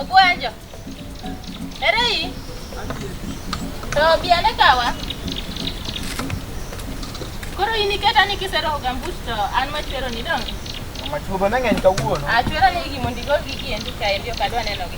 Ogwanjo. Ere yi? To biane kawa? Koro in iketa ni kiseroho gambut to an machwero ni dong. Machuoba ne ng'eny kawuono. Achwero ni gimondo igol gigi endi kaendi ok adwa nenogi.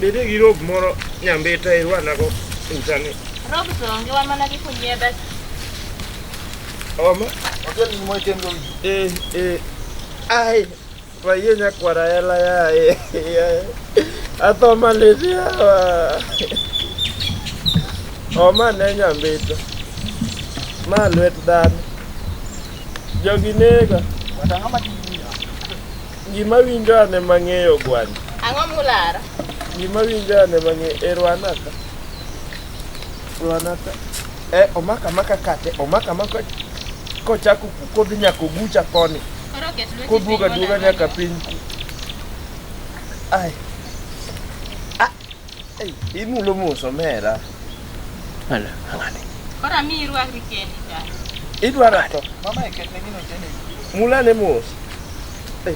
Bede gi rob moro nyambita irwanago utani. Rob to onge wa mana gi kunyiedha. Oma. Otel ni moy tem gogi. Eh eh. Ai. Waye nyakwara ela ya. Atho maletia. Oma ne nyambita. Ma lwet dhano. Jogi nega. Watangama Gima winjo ane mang'eyo gwani. Ang'o mulara? Gima winjo ane mang'eyo e Rwanaka. Rwanaka. Eh, omaka maka kate, omaka maka kochako kodhi nyaka ogucha koni. Koduoga duoga nyaka piny. Ai. Imulo mos omera. Ala, ang'ani. Koro amiyi irwakri kendi cha. Idwara to. Mama iketne gino tene. Mula ne mos. Eh,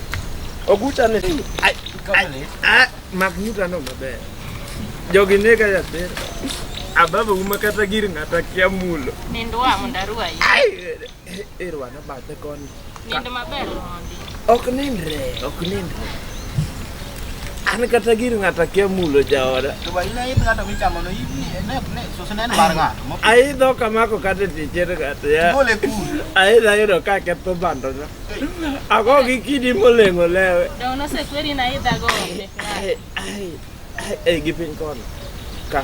Ogucha ne. Ai, ai, ai, mak nyuta no maber. Jogi nega yathera. Ababa uma kata gir ng'ata kia mulo. Nindwa mondo arwayi. Ai, Irwana bathe koni. Nindo maber mondi. Ok nindre, ok nindre. An kata gir ng'ato akia mulo jaoda. To ba ina idh ng'ato michamo no ibni ne ne sose ne en bar ng'ato. mo- Aidho kamako kata tichere kata ya. Bole kuru. Aidha yudo ka ketho bando na. Ago gi kidi molengo lewe. Dongo nosekweri na idha go onge. Ai, ai, ai, ai, gi piny kono. Ka.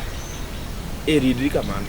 Eridri kamano.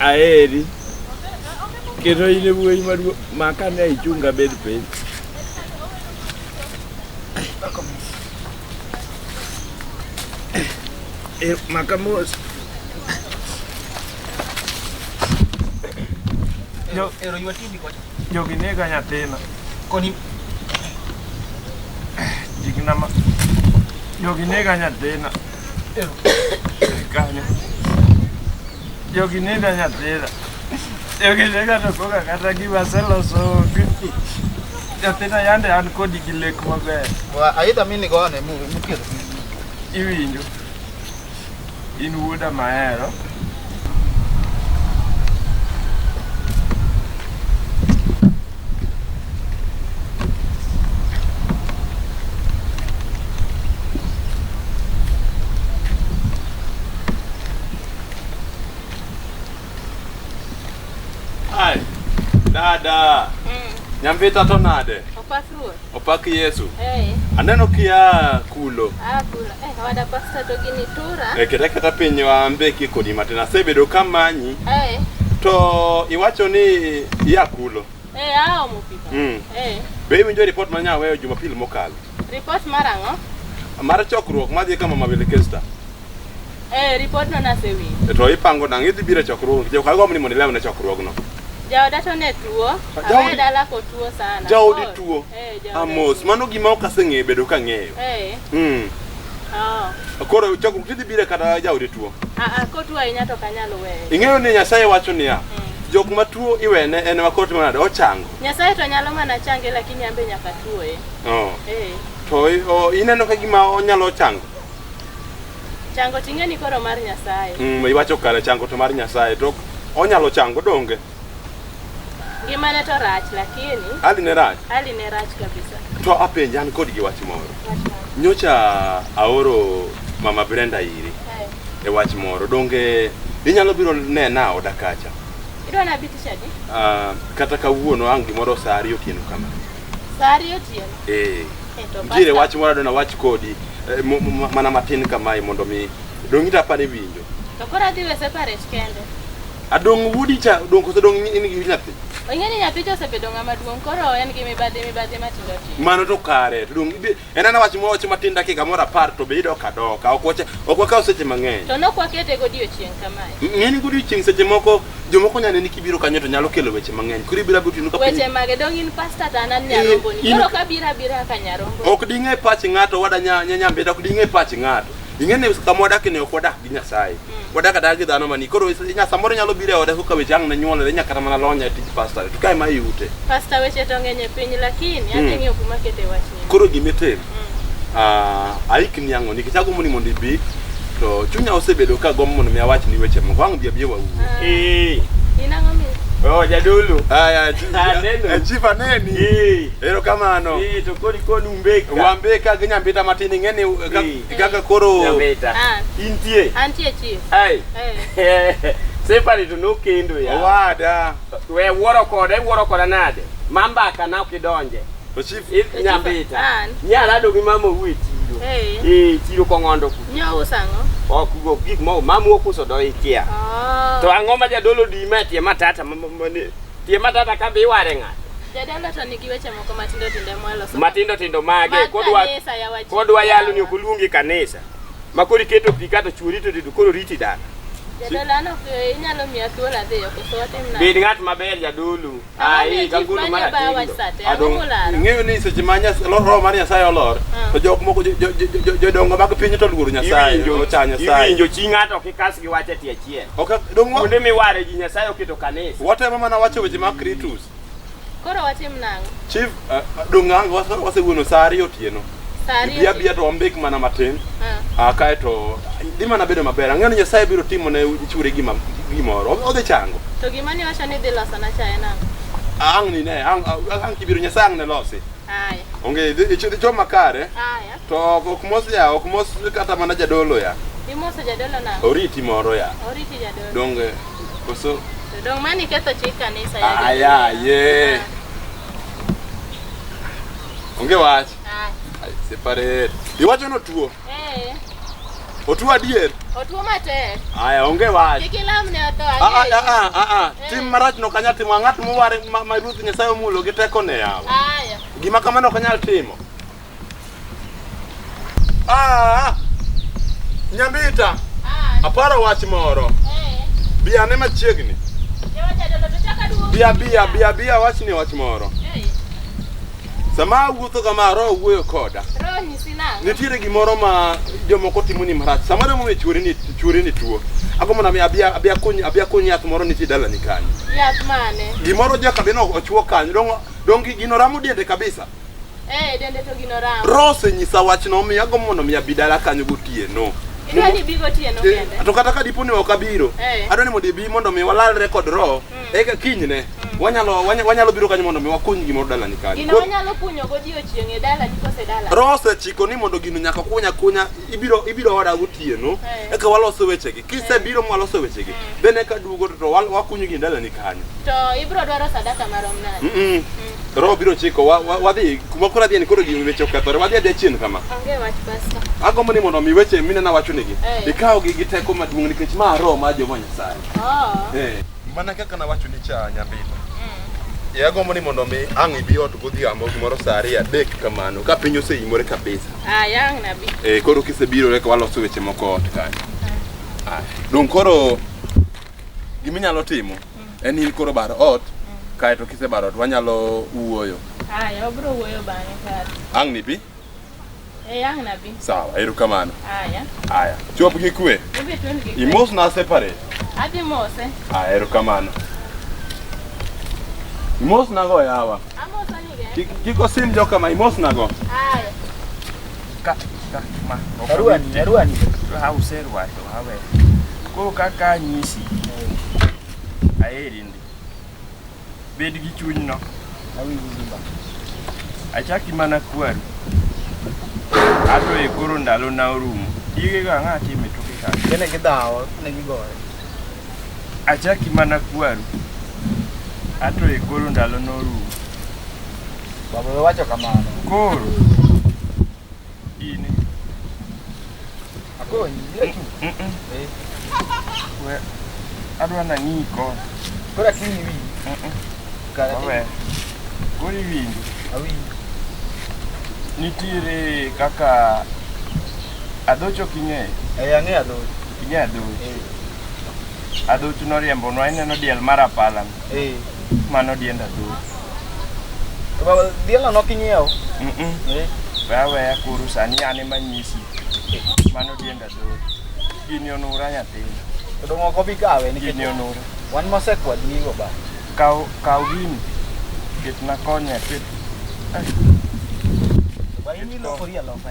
Aeri. Kendo in e wuoyi maduong' maka ne ichunga bed piny. Eh, maka mos. Jo- Ero ywa TV kocha. Jogi nega nyathina. Koni Jigna ma. Jogi nega nyathina. Kanyo. Jogi nina nyathina. Jogi nega to koka kata gima aseloso onge. Nyathina yande an kodi gi lek maber. Wa aidha mini gone mu mukir. Iwinjo. In wuoda mahero. Ai, dada. Mm. Nyambita to nade? Opasruoth. Opak Yesu. Hey. Aneno kia kulo. Ah, kulo. Eh, hey, wada pasta to gini tura. Eh, keta keta piny waambe kikodi matin. Asebedo kamanyi. Eh. Hey. To iwacho ni ya kulo. Eh, hey, ao mupika. Mm. Eh. Hey. Be iwinjo report ma nyaweyo Jumapil mokalo? Report mar ang'o? Mar chokruok madhi kama Mabele Kesta. Eh, ripodno nasewinjo. E, to ipango nang' idhi biro e chokruogno. Jaoka agombo ni mondo ilemna e chokruogno. Jaoda to ne tuo. Jaodi- Awe dala kotuo sana. Jaodi Koro- tuo. Eh, jaoda Amos, tuo. mano gima ok aseng'eyo bedo ka ng'eyo. Eh, Mm. oh. Koro chokruok idhi biro kata jaodi tuo. Ah, ah, kotuo ahinya to kanyal weye. Ing'eyo ni Nyasaye wacho niya, jok ma tuo iwene en ma koro timo nade ochango. Nyasaye to nyalo mana change lakini ambe nyaka tuoye. Oh. Eh. To i- o- ineno ka gima onyalo chango. Chango ting'e ni koro mar Nyasaye. Mm, iwacho kare chango to mar Nyasaye to onyalo chango donge. Ngima ne to rach lakini. Hali ne rach. Hali ne rach kabisa. To apenja an kod gi wach moro. Nyocha aoro mama Brenda iri. Hey. E wach moro donge inyalo biro nena oda kacha. Idwa na bitisha di? Ah, uh, kata kawuono ang' gimoro saa ariyo otieno kama. Saa ariyo otieno. Eh. Nitiere wach moro adona wach kodi eh, mana matin kamae mondo mi dongi to apani winjo. To koro adhi we separate kende. Adong wudi cha dong koso dong in gi nyathi. Ong'e ni nyathi to osebedo ng'ama duong' koro en gi mibadhi mibadhi matindo tindo. Mano to kare to dong En ana wach mwawacho matin dakika moro apar to be idok adoka. Ok wacha ok wakaw seche mang'eny. To nok wakete godiochieng' kamae. Ng'eni godiochieng' seche moko jomoko nyane ni kibiro kanyo to nyalo kelo weche mang'eny. Kuri bira butinu ka Weche mage dong in pastor to an an nyarombo ni. Koro ka bira bira ka nyarombo. Ok ding'e pach ng'ato wada nya nyambe ok ding'e pach ng'ato. Ing'e ni kama wadakni ok wadak gi nyasaye mm. wadak adak gi dhano mani koro nya samoro nyalo biro e oda kaka weche ang' ne nyuolore nyaka kata mana lonya e tij pastor to kae ma iute pastor weche to ng'eny e piny lakini mm. adhi ng'iyo kuma kete wachni koro gima itim mm. ah, aikni ang'o nikech agombo ni mondo ibi to chunya osebedo ka gombo mondo mi awach ni weche moko ang' bi abiye wawuo ah. eh. in ang'o mi Oh, jadolo. Haya, ah, chief aneni. Eh. Erokamano. Eh, to kodi koni umbeka. Wambeka ginyambita matini ngeni eh, Kaka koro Nyamita. Ah, intie. antie chief. Ai. Eh. Sefari to nokendo ya. Owada. We wuoro koda, iwuoro koda nade? Mambaka na ok idonje. To chief I- Nyambita. An. Nyara do gi mama owuo e chiro. Eh. Eh, chiro kong'ondo ku. Nyo usango. Ok go gik moko mamu okuso do ikia. Oh. To ang'o ma jadolo di ma tie matata ma- ma- ma- ni- Tie matata ka bi ware ng'ato. Jadala to nigi weche moko matindo tindo mweloso. Matindo tindo mage Mag kodwa kanisa ya wajinga. kodwa yalo ni ok oluongi kanisa. Ma koro iketo pi kato chuori to to koro riti dala. Jadala no eh, inyalo miya thuolo adhiyo koso watim nade? Bed ng'at maber jadolo. Ang'o Ai miyo ka chief golo mane obayo wach sate? Ang'o Adong. molaro? Ing'eyo ni seche ma Nyas- lo- roho mar Nyasaye olor, Ah. to jok moko jo- jo- jo- jo- jodongo mag piny to luoro Nyasaye, Iwinjo ocha Nyasaye. iwinjo chi ng'ato ok ikas gi wach e tie Achiel. Ok dong' wa- Kuonde miware ji Nyasaye oketo kanisa. watemo mana wacho weche mag Kritus. Koro watim nang'o? Chief, eh, dong' ang' wase- wasewuono sa ariyo otieno. Sa ariyo Biya otieno. biya to wambek mana matin. Ah. Ah, kae to dhi mana bedo maber. Ang'eyo ni Nyasaye biro timo ne chwore gima gimoro. O- Odhi chango. To gima ne wacho ni dhi loso na chae nang'o? Ang' ni ne, ang' ang' kibiro Nyasaye ang' ne losi. Aya. Onge dhi dhi cho makare. Aya. To ok mos ya, ok mos kata mana jadolo ya. Imoso jadolo na. Oriti moro ya. Oriti jadolo. Donge koso To dong mani ketho chik kanisa ya. jadolo. aya ye. Onge wach. Ah. Ai, Separate. Iwacho no tuo. Eh, Otuo adier. otuo matek. Aya, onge wach. Kik ilamne otho Ah, ah, ang'eyo. ah, ah, ah. Eh. Tim marach no kanya timo ng'at moware ma, ma Ruoth Nyasaye omulo gi tekone yawa. Aya. Gima kamano ok anyal timo. Ah, Nyambita, Ah, aparo wach moro. eh, Bi ane machiegni. joma jadolo to chaka duogo. Bia bia bia bia wachni wach moro. Eh, Sama awuotho kama roho wuoyo koda. roho nyisi nang'o? Nitiere gimoro ma jomoko timo ni marach. Sama demo chwori ni chwori ni tuo. Agombo na mi abia abia kony abia kony yath moro nitie dalani kanyo. Yath mane? Gimoro joka beno ochwo kanyo. Dongo dongi gino ramo diende kabisa. Eh, dende to gino ramo. Rose nyisa wach no mi ago mondo mi abi dala kanyo gotieno. Idwa ni bigo tieno Eh, kende. To kata ka dipo ni ok abiro, Eh. adwa ni mondo ibi mondo mi walalre kod roho. Eka kinyne wanyalo wanya- wanyalo biro kanyo mondo mi wakuny gimoro dalani kanyo. Gino Koro- wanyalo kunyo godiochieng' e dala ni kose dala. Rose chiko ni mondo gino nyaka kunya kunya ibiro ibiro oda gotieno. Eh. Eka waloso wechegi. Kisebiro mwaloso wechegi, then eka duogo to wal- wakunyo gi ndalani kanyo. To ibiro dwaro sadaka marom nade? Mm-mm. Roho biro chiko wa- wa- wadhi kuma koro adhiye ni koro gi weche okethore wadhi adhiya chien kama. Onge wach pasta. Agombo ni mondo mi weche minena wachonegi Eh. ikawogi gi teko maduong' nikech ma roho mar Jehova Nyasaye. Oh. Eh. Mana kaka nawacho ni cha nyambita. E agombo ni mondo mi ang' ibi ot godhiambo gimoro saa ariyo adek kamano ka piny oseimore kabisa. Ah, yang nabi. Eh, koro kisebiro eka waloso weche moko ot kanyo. Ah, Dong koro giminyalo timo en in koro bar ot kaeto kisebaro ot wanyalo wuoyo. Ah, ya obro wuoyo bang'e kar. Ang' nibi? Eh, ang nabi. Sawa, erokamano. Aya. Aya. Chop gi kwe. Ibi twen gi. Imos na separate. Abi mose. Aya, erokamano. Imos na go yawa. Amosa ni ge. Kik kik osim joka ma imos na go. Aya. Ka ka ma. Aruani, aruani. Ha userwa to hawe. Ko kaka nyisi. Aeri ndi. Bed gi chunyno. Achaki mana kwaru. Ato e koro ndalo na orumo. Dige ga ng'a time to kika. Kene gi dawo ne gi gore. Achaki mana kwaru. Ato e koro ndalo na orumo. Baba wacho kamano. Koro Gini. Akonyi, yetu. Eh. We, adwa na ng'i ko. Kora kini wi. Kara we. Kori wi. Awi. Nitiere kaka adocho king'e. Eh, ang'e adocho. King'e adocho. Eh. Adocho noriembo nwa ineno diel mar apala. Mm. Eh, mano dienda tu. To baba diela no kinyiewo. Mhm. Eh, Wewe ya kuru sani ane manyisi. Mano dienda tu. Gini onura nyathina. to dong' ok obi kawe nikech Gini onura. wan mosekwadnigo ba. Kaw kaw gini. Ketna konya ket. Ba in ilokori aloka.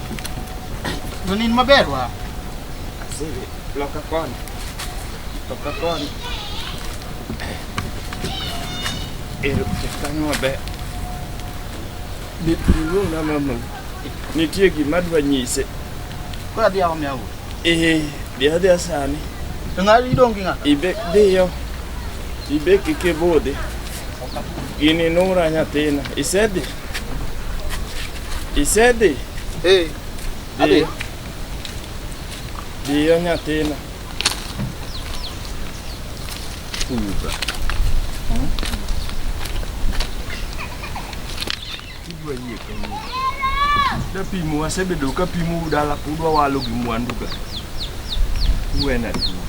Jolin maber wa. Asili, loka koni. Loka koni. Ero kanyo maber. Niluong na mama. Nitie gima dwa nyise. Kwa dia wa myawu. Eh, dia dia sani. Ngari dongi ngaka. Ibe dio. Ibe kike bode. Gini nura nyathina. Isedhi? Isedhi? Hey. Adhi. Dhiyo nyathina. Uba. Idwa yie kanyini. Dapimu asebedo ka pimu udala udwa walo gi mwandu ga. Uwena tuo.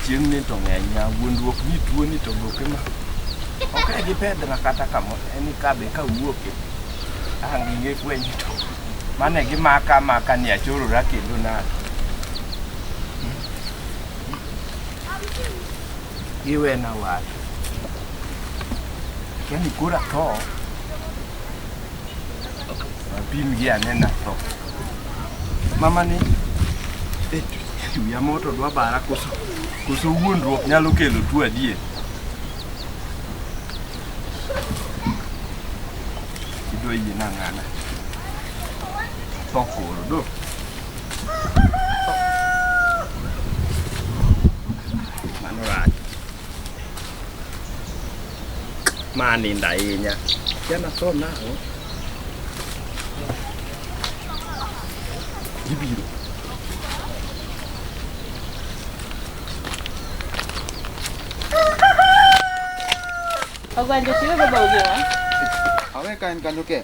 Chieng' ni to ng'eny ya wuondruok ni tuo ni to goke ma. Ok e gi pedra kata kamo en ka be ka wuoke. Ang' inge kwenye to. Mane gi maka maka ni achorora kendo na. Iwe na wach. Kani kura to. Apim gi anena to. Mama ni eh wiya moto dwa bara koso koso wuondruok nyalo kelo tuo adier. Idwa yie na ng'ana. To koro do. Mano rach. Ma ninda ahinya. Jana tho nang'o? Gibiro. Ogwanja tiwe baba ugewa. Awe ka en kanyo ke.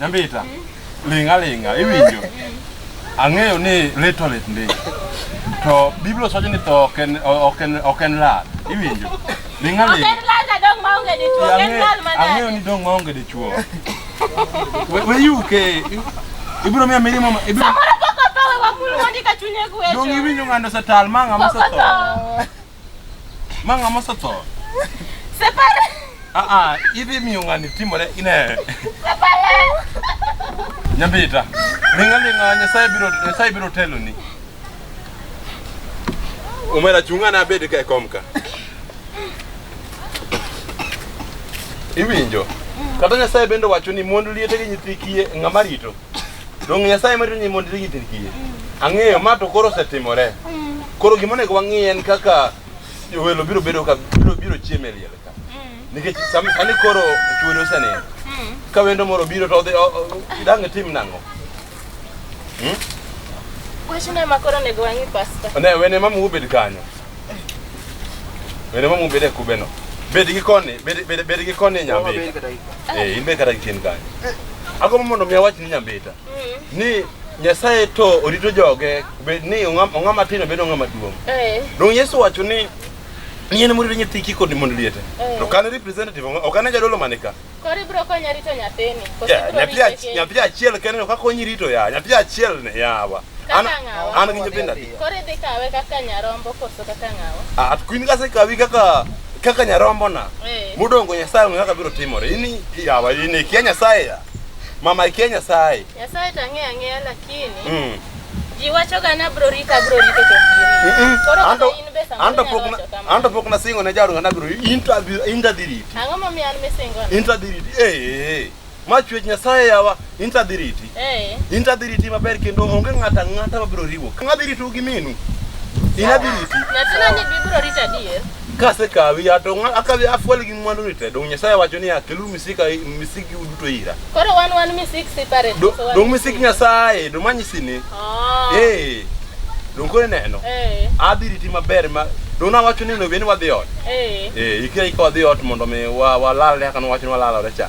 Nyambita, linga linga, iwinjo. Ang'eyo ni little lit ndi. To Biblia osacho ni tho ok en ok en ok en lal. Iwinjo? Linga Ok linga. en lal na dong maonge dichuo, ok en lal manade. Ang'eyo ni dong maonge dichuo. We we yuke. Ibiro miya mirimo ma- ibiro Samoro pok otho we wakul mondi ka chunye gwecho. dong iwinjo ng'ando setal manga Pok mosetho. otho. Manga mosoto. Separa. Ah ah, ibi miungani timore ine. Separa. Nyambita. Linga linga nyasaye biro nyasaye biro telo ni. Umera chungana abed ka komka. Iwinjo. Kata nyasaye bende wacho ni mond liete gi nyithi kiye ng'ama rito. Donge Nyasaye medo ni mondo irigi tin kiye? Ang'eyo ma to koro osetimore. Koro gima onego wang'i en kaka welo biro bedo ka biro biro chiemo e liel ka. Nikech sam- sani koro chuori osenindo. Ka wendo moro biro to odhi o- o- dang' itim nang'o? Wachno ema koro onego wang'i pasta. Ne wene mama ubed kanyo. Wene mamu bede kube no. Bede gi koni, bede bede bede gi koni nyambe. Eh, imbe kata gitin kani. Ako mondo mi awach ni nyambita. Ni Nyasaye to orito joge bed ni ong'ama ong'ama tin obed ong'ama duong'. Eh. Dong Yesu wacho ni ni en murito nyithi kiko ni mondo liete. To kan representative ok an jadolo manika. Kori bro konya rito nyathini. Yeah, nyathi achiel, nyathi achiel kende no kakonyi rito ya, nyathi achiel ne yawa. An an gi nyithindo adi? Kori dhi kawe kaka nyarombo koso kaka ngawa? Ah, at kuin kase kawi kaka kaka nyarombo na. Hey. Eh. Mudongo nyasaye ngaka biro timore. Ini yawa, ini kia nyasaye ya. Mama kia nyasaye. Nyasaye to ang'eyo ang'eya lakini mm. ji wachoga ni abro rito abro rito to anto pok nasingo ne jaoda nabro intadhi riti ang'o momiyo an misingo intadhi riti ee ma chwech nyasaye yawa intadhi riti eh. intadhi riti maber kendo onge ng'ato ang'ata mabro riwo ng'adhi ritou gi minu inadhi riti nyathina ni bibro rito adier Kasekawi ya to ng'a- akawi afuel gi mwandu ni te. Dong Nyasaye wacho ni akelu misika misiki uduto ira. Koro wan wan misik separate. Do- so wan- Dong misik Nyasaye, dong manyisi ni. Ah. Eh. Dong koro neno. Eh. Adhi riti maber ma dong nawacho ni onego bed ni wadhi ot. Eh. Eh, ikira ikaw dhi ot mondo mi wa walal ne kaka nwawacho ni walalore cha.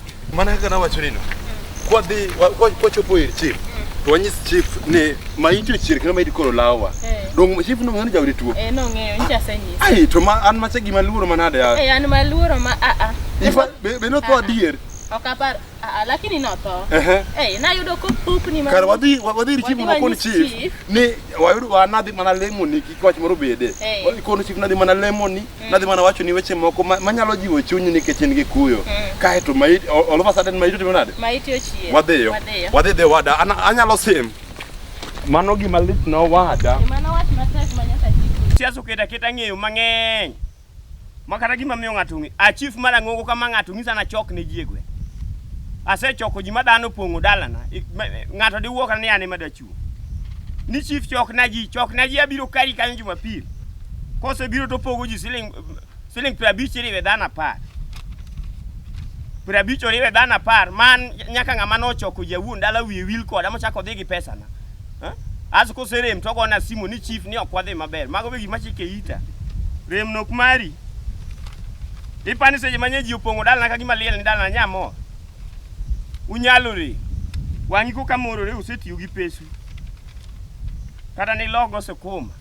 Mana kaka nawacho nino, kwadhi wa- kwa- kwachopo ir chief to wanyis chief ni maiti ochier kendo maiti koro lawa. Eh. Dongo chief no ngani jawri tuo. Eh, nong'eyo nyicha asenyisa Ai to ma an macha gima luoro manade ya. Eh, an maluoro ma aa Ifa be be no tho adier. ok apar aa lakini notho Ehe. Eh, nayudo kopupni ma- Kar wadhi wa- wadhi ir chief Wadhi mondo kon wanyis chief chief. ni wayudo wanadhi mana lemoni kik wach moro bede. Eh. Kono chief nadhi mana lemoni Mm. Nadhi mana wacho ni weche moko ma- manyalo jiwo chunyi nikech in gi kuyo. Mm. Kae to maiti all all of a sudden maiti timo nade? Maiti ochier. Wadhiyo. Wadhiyo. Wadhi dhi wada. Ana- Anyalo sim. Mano gima lit na wada. Ema nowach matek ma nyaka chik. siasa oketo aketa ng'eyo mang'eny ma kata gima miyo ng'ato ng'e a chief mar ang'ongo kama ng'ato ng'isa na chok ne ji e gweng' asechoko ji ma dhano opong'o dalana I- ma- ng'ato diwuo kata ni an ema dachung' ni chief chok na ji chok na ji abiro kari kanyo jumapil kose biro to pogo ji siling siling piero abich iriwe dhano apar piero abich oriwe dhano apar man nyaka ng'ama nochoko jawuon dala wiye wil koda mochako dhi gi pesana as koserem to ogona simu ni chief ni ok wadhi maber mago be gima chike ita rem nok mari ipani seche manye ji opong'o dalana ka gima liel ni dalana nyamor Unyalore. Wang'i koka morore usetiyo gi pesu. Kata ni logo sukuma.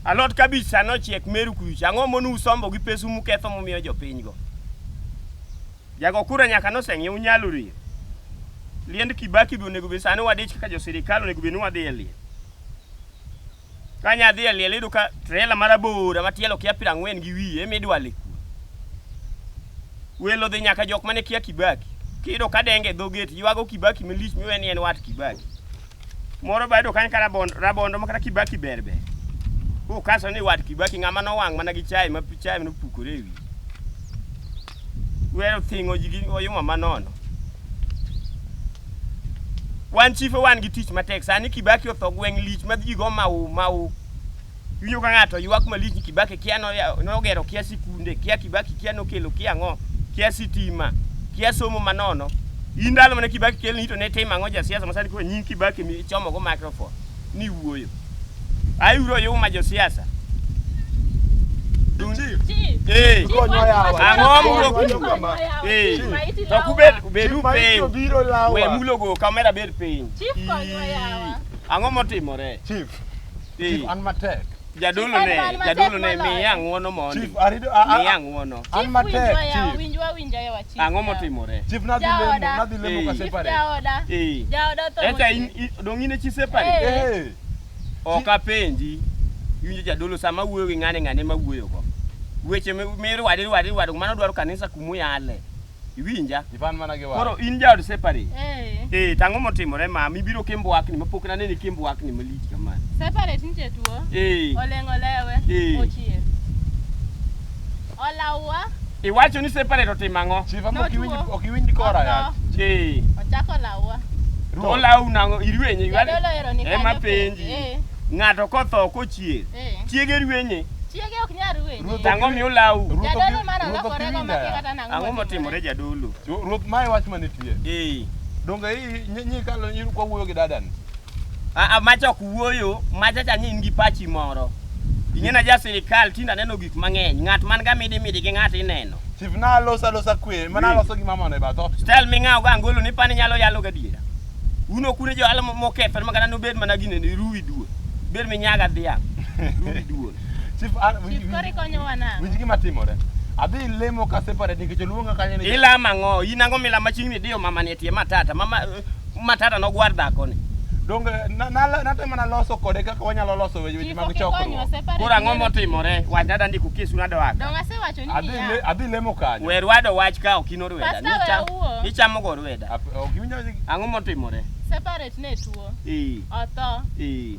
Alot kabich sano ochiek meru kuch. Ang'o monu usombo gi pesu muketho mumiyo jopiny go? Jago kura nyaka noseng'e unyalore. Liend Kibaki bi onego be sani wadich kaka jo sirikal onego be ni wadhi e liel. Kanya adhi e liel iyudo ka trela marabora ma tielo kia piero ang'wen gi wiye ema idwale kuno. Welo dhi nyaka jok mane kia Kibaki. Kiyudo ka denge e dho gate ywago Kibaki malich miwe ni en wat Kibaki. Moro ba yudo kanyo ka rabondo, rabondo ma kata Kibaki ber ber. Kukaso ni wat Kibaki ng'ama nowang' mana gi chai ma chai nopukore e wiye. Weyo thingo ji gi oyuma manono. Wan chife wan gi tich matek. Sani Kibaki otho gweng' lich ma ji go mau mau. Iwinjo ka ng'ato ywak malich ni Kibaki kia no- ya- nogero kia sikunde, kia Kibaki kia nokelo kia ang'o, kia sitima, kia somo manono. In ndalo mane Kibaki kelni to ne tim ang'o jasiasa ma sani koro nying Kibaki mi ichomogo microphone. ni wuoyo. Ayudo oyuma josiasa. Eh, Konywa yawa. Ang'o mulo Konywa kuno? kama. eh, to kubed bedu Chief Maiti piny. obiro lawa. We mulogo kamera bed piny. Ang'o motimore? Chief, Eh. chief an matek. Jadolo ne, jadolo ne miya ng'uono mondi. Chief arido a a. Miya ng'uono. An matek Winjwa yawa, chief. winjwa winja yawa chief. Ang'o yawa. motimore? Chief nadhi lemo, Jaoda. nadhi lemo Eh. ka Chief separate. jaoda. Eh. Jaoda otho Eta in mochwere. i- dong' in e chi separi. Eh. Eh. Ok apenji. Iwinjo jadolo sama wuoyo gi ng'ane ng'ane ma wuoyogo. Weche mi- mirwadi rwadi rwadi mano dwaro kanisa kumuyale. Iwinja? Ipan mana gi wach. Koro in jaod separate. Eh. Eh, tang'o motimore ma mibiro kimbwakni ma pok naneni kimbwakni malich kamano. Separate nitie tuo. Eh. Oleng' olewe. Eh. Ochier. Olawa. Iwacho ni separate otimo ang'o? Chief ama ok iwinj ok iwinj kora ya. Eh. Ochako lawa. To olawu nang'o irwenye. Jadolo ero ni kanyo. Ema penji. Eh. Ng'ato kotho kochier. Eh. Chiege rwenye. Chiege ok nyal rwenye. Tang'o mi olawu. Jadolo mara lokore go makikata Ang'o motimore jadolo? Ruoth mae wach manitie. Ee. Donge i nyi- nyi kalo nyi kwa wuoyo gi dadani. A- a- macha ok wuoyo macha cha ni in gi pachi moro ing'ena ja sirikal tinde aneno gik mang'eny ng'at man ga midi midi gi ng'at ineno Chief na alosa losa kwe, mana Mm. aloso gi mama ne ba thot. stel ming'awo ga angolo ni pani nyalo yalo gadiera un ok une johala mo- mokethore makata nobed mana gine ni ruwi duol bed minyaga dhiang' ruwi duol Chief, ah, winj- Chief, winj- koro ikonyowa nang'o? winj gima timore adhi lemo ka separate nikech oluonga kanyo ni ilama ng'o in ang'o milama chieng' ni diyo mama ni etie matata mama eh, matata nogwar dhakoni donge na- na- natemo naloso kode kaka wanyalo loso weche weche Chief, mag ok ikonywa chokruok separate. koro ang'o motimore wach nada ndiko kesu nado waka Donge asewacho ni Adhi niya. le- adhi lemo kanyo wer wado wach ka ok in orweda Pastor, we Nicha- awuo. ichamo go orweda Ap- ok iwinjo ang'o motimore Separate ne tuo. Ee, Otho. ee.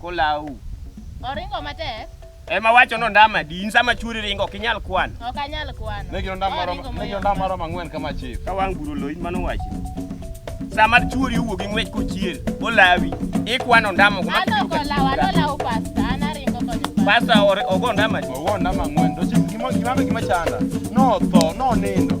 Kolau. Oringo matek. Ema wacho no ndama di in sama churi ringo ok inyal kwano. Ok anyal kwano. Ne giro ndama moro, ne giro ndama moro mang'wen kama chief. Ka wang' buro lo in mano wacho. Sama churi owuok gi ng'wech kochier, olawi, ikwano ndama kuma. Ano kolawa, ano lawo pasta, ana ringo konyo pasta. Pasta ogo ndama di. Ogo ndama ng'wen, to chief gima gima chanda. No tho, no nindo.